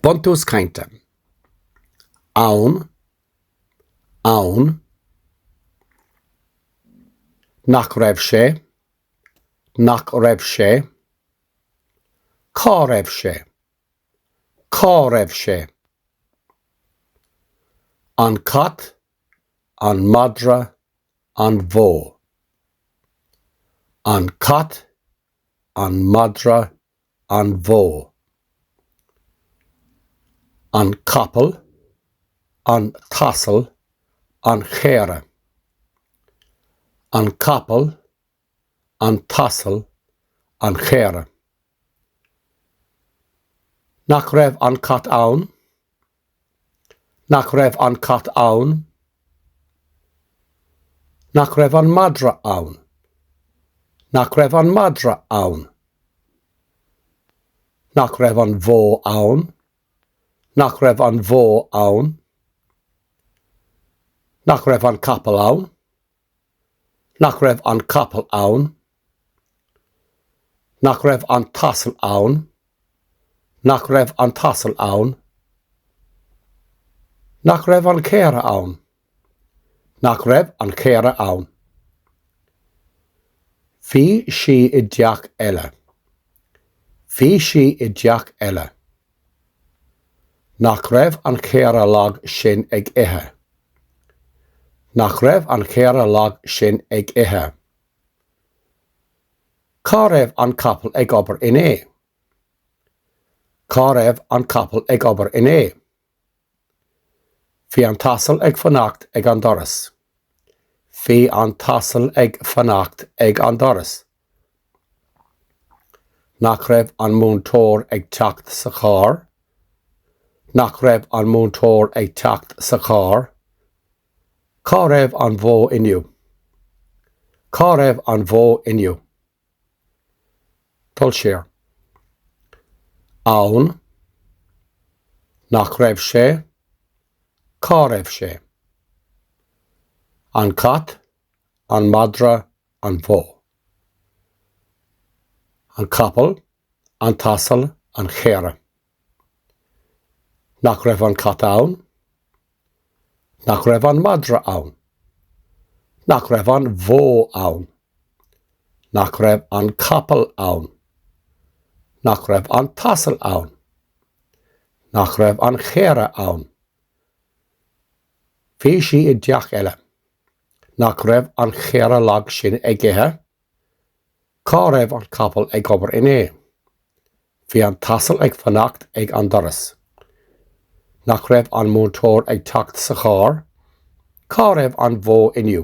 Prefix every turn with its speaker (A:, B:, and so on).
A: Buntús Cainte Ann Ann Nach raibh sé Nach raibh sé Cá raibh sé Cá raibh sé An cat An madra An bhó An cat An madra an bhó, an capall, an t-asal, an chaora, an capall, an t-asal, an chaora. Nach raibh an cat ann? Nach raibh an cat ann? Nach raibh an madra ann? Nach raibh an madra ann? Nach raibh an bhó ann? Nach raibh an bhó ann? Nach raibh an capall ann? Nach raibh an capall ann? Nach raibh an t-asal ann? Nach raibh an t-asal ann? Nach raibh an chaora ann? Nach raibh an chaora ann? Bhí sí i dteach eile. Bhí sí i dteach eile. Nach raibh an chaora lag sin ag ithe? Nach raibh an chaora lag sin ag ithe? Cá raibh an capall ag obair inné? Cá raibh an capall ag obair inné? Bhí an t-asal ag fanacht ag an doras. Bhí an t-asal ag fanacht ag an doras. Nach raibh an múinteoir ag teacht sa charr? Nach raibh an múinteoir ag teacht sa charr? Cá raibh an bhó inniu? Cá raibh an bhó inniu? Dul siar. Ann. Nach raibh sé? Cá raibh sé? An cat, an madra, an bhó, an capall, an t-asal, an chaora, nach raibh an cat ann, nach raibh an madra ann, nach raibh an bhó ann, nach raibh an capall ann, nach raibh an t-asal ann, nach raibh an chaora ann, bhí sí i dteach eile, Nach raibh an chaora lag sin ag ithe? Cá raibh an capall ag obair inné? Bhí an t-asal ag fanacht ag an doras. Nach raibh an múinteoir ag teacht sa charr? Cá raibh an bhó inniu?